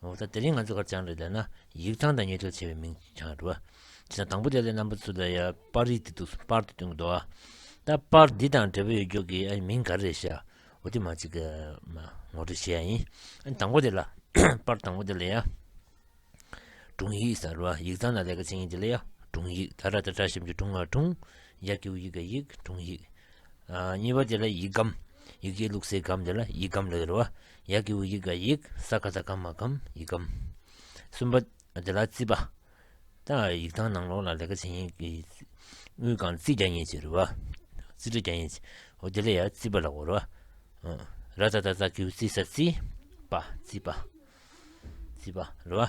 ངོ་ཚ་དེ་རིང་ང་ཚོ་གར་བྱང་རེད་ལས་ན་ཡིག་ཐང་དང་ཉེ་དོད་ཆེ་བའི་མིང་བྱང་རེད་བ། བྱས་ན་དང་པོ་དེ་ལས་རྣམ་པ་ཚུར་ལ་ཡར་པར་རིས་འདི་འདུག་སོང་པར་དུ་བསྟུན་དགོས་དོ། ད་པར་འདི་དང་འབྲེལ་བ་ཡོད་རྒྱུག་གི་ཨའི་མིང་ག་རེ་རེད་ཤ་འོ་དེ་མ་ཅིག་གི་མ་ངོ་སྤྲོད་བྱེད་ཡ་ཡིན། ཨ་དང་པོ་དེ་ལ་པར་དང་པོ་དེ་ལ་ཡ། དྲུང་ཡིག་ས་རེད་བ་ཡིག་ཚང་ན་ལས་ཀ་བྱེད་ཡིན་དེ་ལ་ཡ་དྲུང་ཡིག་ད་ར་ད་བཀྲ་ཤིས་འབྱུང་དྲུང་ང་དྲུང་ཡ་ཀེའུ་ཡི་ག་ཡིག་དྲུང་ཡིག། གཉིས་པ་དེ་ལ་ཡིག་སྒམ་ཡིག་སྐད་ལུགས་སའི་སྒམ་དེ་ལ་ཡིག་སྒམ་ལས་རེད་བ། ཡ་གི་ཝུ་ཡིག་ག་ཡིག་ས་ག་ད་གམ་མ་གམ་ཡིག་གམ། གསུམ་པ། དེ་ལ་རྩིས་པ། ཏང་ཨར་ཡིག་ཏང་ནང་ལོགས་ལ་ལས་ཀ་བྱེད་ཡིན་གི། དངུལ་གང་རྩིས་རྒྱ་ཡིན་ཅེས་རུ་བ། རྩིས་ཁྲ་རྒྱ་ཡིན་ཅེས། ཨོ་དེ་ལ་ཡ་རྩིས་པ་ལ་གོ་རུ་བ། ར་ད་ད་ད་གི་ཝུ་རྩིས་ས་རྩིས། པ། རྩིས་པ། རྩིས་པ། རུ་བ།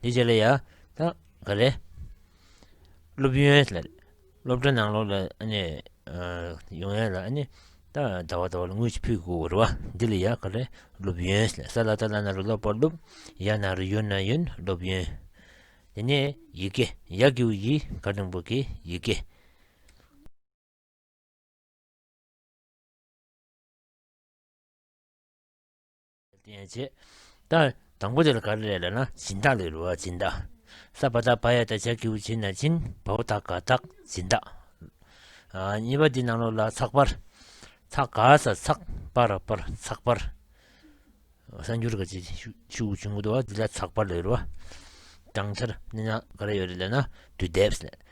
འདི་ཇེ་ལ་ཡ། ད། ག་རེ། སློབ་ཡོན་ལ། སློབ་གྲྭ་ནང་ལོགས་ལ་ཨ་ནི། ཡོང་ཡ་ལ་ཨ་ནི། ད་ད་བ་ད་བ་ལ་ངུས་ཅིག་ཕུད་དགོ་རུ་བ། འདི་ལ་ཡ་ག་རེ། སློབ་ཡོན་ལ་ས་ལ་ད་ལ་ན་རུ་སློབ་པར་སློབ། ཡ་ན་རུ་ཡོན་ན་ཡོན་སློབ་ཡོན། དེ་ནས་ཡི་གེ་ཡ་གི་བུ་ཡི་ག་རིང་པོ་གི་ཡི་གེ། བསྟན་བྱེད། ལྟར། དང་པོ་དེ་ལ་དགའ་རེ་རེ་ལ་ན་སྦྱིན་བདག་ལས་རུ་བ་སྦྱིན་བདག། ས་བ་དག་བ་ཡ་དག་བྱ་ཁྱེའུ་བྱིན་ན་བྱིན་བ་བོ་དག་དགའ་དག་སྦྱིན་བདག། གཉིས་པ་འདི་ནང་ལོགས་ལ་ཚགས་པར། ཚགས་དགའ་ས་ཚགས་པར་པར་ཚགས་པར། གསར་འགྱུར་དགའ་བྱེད་ཤུགས་ཆུང་བུ་དོ་བ་འདི་ལ་ཚགས་པར་ལས་རུ་བ། གྲངས་འཆར་ནི་ན་དགའ་རེ་ཡོད་རེ་ལ་ན་དུས་དེབས།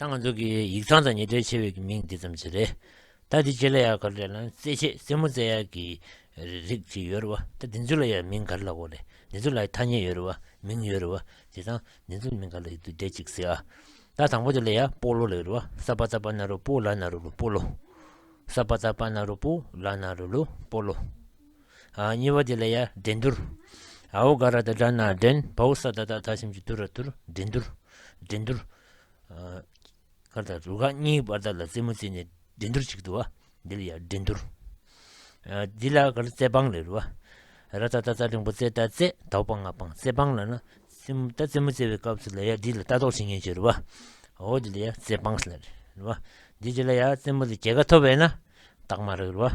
ད་ང་ཚོ་གི་ཡིག་ཚང་དང་ཉེ་འབྲེལ་ཆེ་བའི་གི་མིང་འདི་ཙམ་ཟེར་རེད། ད་འདི་བྱེད་ལ་ཡག་ག་རེད་ལ་རྩེད་ཆས་རྩེད་མོ་རྩེད་ཡག་གི་རིགས་ཅིག་ཡོད་རེད་བ་ད་འདི་ཚོ་ལ་ཡང་མིང་ག་རེ་ལ་གོ་རེད་འདི་ཚོ་ལ་ཡང་ཐ་སྙད་ཡོད་རེད་བ་མིང་ཡོད་རེད་བ་དེ་དང་འདི་ཚོ་མིང་ག་ལ་ཡོད་དུ་བསྡད་ཅིག་ཟེར་ཨ། ད་དང་པོ་དེ་ལ་ཡང་སྤོ་ལོ་ལ་ཡོད་རེད་བ་སཱ་པཱ་ཏཱ་པཱ་ན་རོ་པོ་ལཱ་ན་རོ་ལོ་སྤོ་ལོ། སཱ་པཱ་ཏཱ་པཱ་ན་རོ་པོ་ལཱ་ན་རོ་ལོ་སྤོ་ལོ། གཉིས་པ་དེ་ལ་ཡ་བྲན་འདུར། ཨའོ་ག་ར་དང་སྦྲགས་ན་བྲན། བའོ་ས་ད་དག་ད་ཞིམ་གྱིས་དུར་ར་དུར། བྲན་འདུར། བྲན་འདུར། ཁར་དང་རུ་ཁ་གཉིས་ཀྱི་བར་དག་ལ་རྩེ་མོ་རྩེས་ནས་བྲན་འདུར་ཅིག་འདུ་བ། འདི་ལ་ཡ་བྲན་འདུར། འདི་ལ་ག་ར་རྩེ་སྤང་ལས་རུ་བ། ར་ད་ད་རྩ་རིང་པོ་རྩེ་རྟ་རྩེ། དའོ་སྤང་ང་སྤང་རྩེ་སྤང་ལ་ན། རྩེ་མོ་ད་རྩེ་མོ་རྩེ་བའི་སྐབས་སུ་ལ་ཡ་འདི་ལ་རྟ་ལྡོག་བྱེད་ངེས་ཀྱི་རུ་བ། ཨའོ་འདི་ལ་ཡ་རྩེ་སྤང་ལ་རུ་བ། འདི་དེ་ལ་ཡ་རྩེ་མོ་ལ་རྒྱལ་ཁ་ཐོབ་བས་ན། རྟགས་མ་རག་རུ་བ།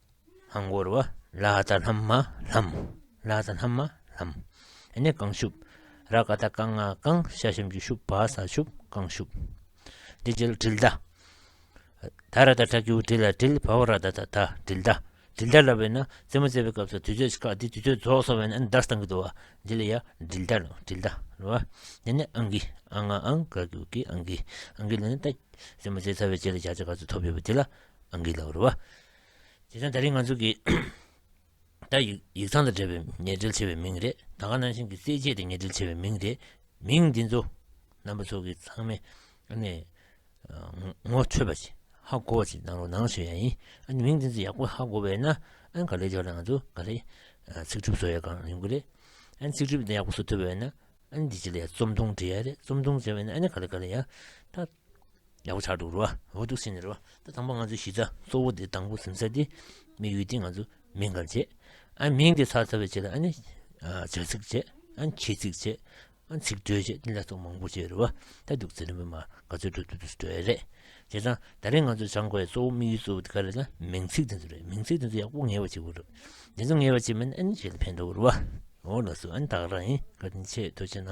ལྷམ་བསྐོར་བ་ལ་ད་ལྷམ་མ་ལྷམ། ལ་ད་ལྷམ་མ་ལྷམ། ཨེ་ནས་གང་ཤུབ། ར་ཀ་ད་རྐང་ང་རྐང་ཤ་ཤམ་གྱི་ཤུབ་བ་ས་ཤུབ་རྐང་ཤུབ། འདི་རྗེས་ལ་དྲིལ་བརྡ། ད་ར་ད་ཁྲ་ཁྱེའུ་དྲིལ་ལ་དྲིལ་བ་བ་ར་ད་ད་ད་དྲིལ་བརྡ། དྲིལ་བརྡ་ལ་བས་ན་རྩེ་མོ་རྩེ་བའི་སྐབས་སུ་དུས་ཚོད་ཁག་འདི་དུས་ཚོད་རྫོགས་སོང་བས་ན་ཨེ་ནས་འདར་སྟངས་ཀྱི་དུ་བ་འདི་ལ་ཡ་དྲིལ་བརྡ་ལོ་དྲིལ་བརྡ་ལོ། འདི་ནས་ཨང་ཀི་ཨང་ང་ཨང་ཀ་ཀྱུ་ཀི་ཨང་ཀི་ཨང་ཀི་ལ་ནི་ད་རྩེ་མོ་རྩེ་ཚར་བའི་རྗེས་ལ་བྱ་བྱ་ག་ཚོད་ཐོབ་ཡོད་པ་དེ་ལ་ཨང་ཀི་ལ་བ་རུ་བ། དེ་དོན་ད་རིང་ང་ཚོ་གི་ད་ཡིག་ཡིག་ཚང་དང་འབྲེལ་བའི་ཉེ་འབྲེལ་ཆེ་བའི་མིང་རེད། ད་ག་ནང་བཞིན་གི་རྩེད་སྤྱད་དེ་ཉེ་འབྲེལ་ཆེ་བའི་མིང་རེད། མིང་འདི་ཚོ་རྣམ་པ་ཚོ་གི་ཚང་མའི་ཨ་ནི་ངོ་འཕྲོད་པ་ཞིག་ཧ་གོ་བ་ཞིག་གནང་རོགས་གནང་ཞུ་ཡ་ཡིན། ཨ་ནི་མིང་འདི་ཚོ་ཡག་པོ་ཧ་གོ་བས་ན་ཨ་ག་ལེར་འཇོག་ན་ང་ཚོ་ག་ལེར་ཚིག་གྲུབ་བཟོ་ཡ་གང་ཡོང་གི་རེད། ཨ་ནི་ཚིག་གྲུབ་འདི་ཡག་པོ་བཟོ་ཐུབ་པས་ན་ཨ་ནི་འདི་ཅི་ལ་ཡ་རྩོམ་ཐུང་འབྲི་ཡ་རེད་རྩོམ་ཐུང་བྱས་པས་ན་ཨ་ནི་ག་ལེ་ག་ལེ་ཡ། ད། ཡག་པོ་ཆགས་འདུག་རེད་བ། འོ་འདུག་སེམས་ནས་རེད་བ། ད་དང་པོ་ང་ཚོའི་གཞི་རྩ་གཙོ་བོ་དེ་དང་པོ་གཟིམ་ས་དེ། མི་ཡུལ་དེ་ང་ཚོ་མིང་གང་བྱེད། ཨ་མིང་དེ་ཚར་ཚར་བའི་བྱེད་ལ་ཨ་ནི། བྱ་ཚིག་བྱེད། ཨ་ནི་ཁྱི་ཚིག་བྱེད། ཨ་ནི་ཚིག་སྒྲོས་བྱེད་དེ་ལ་སོགས་མང་པོ་བྱེད་རེད་བ། ད་འདུག་ཚེ་རིང་པོ་མ་ག་ཚོད་འགྲོ་འདུག་འདུག་རེད། བྱས་ཙང་ད་རེས་ང་ཚོ་བྱང་དགོས་གཙོ་བོ་མི་ཡུལ་གཙོ་བོ་དེ་ག་རེད་ན་མིང་ཚིག་དེ་ཚོ་རེད་མིང་ཚིག་དེ་ཚོ་ཡག་པོ་ངེས་བ་བྱེད་དགོས་རེད། དེ་ཚོ་ངེས་བ་བྱེད་མིན་ཨ་ནི་བྱེད་ལ་ཕན་འདོག་རེད་བ། འོ་ལགས་སོ་ཨ་ནི་དག་རང་ཡིན་ག་དེ་ནི་ཆེས་དོ་ཆེ་ན།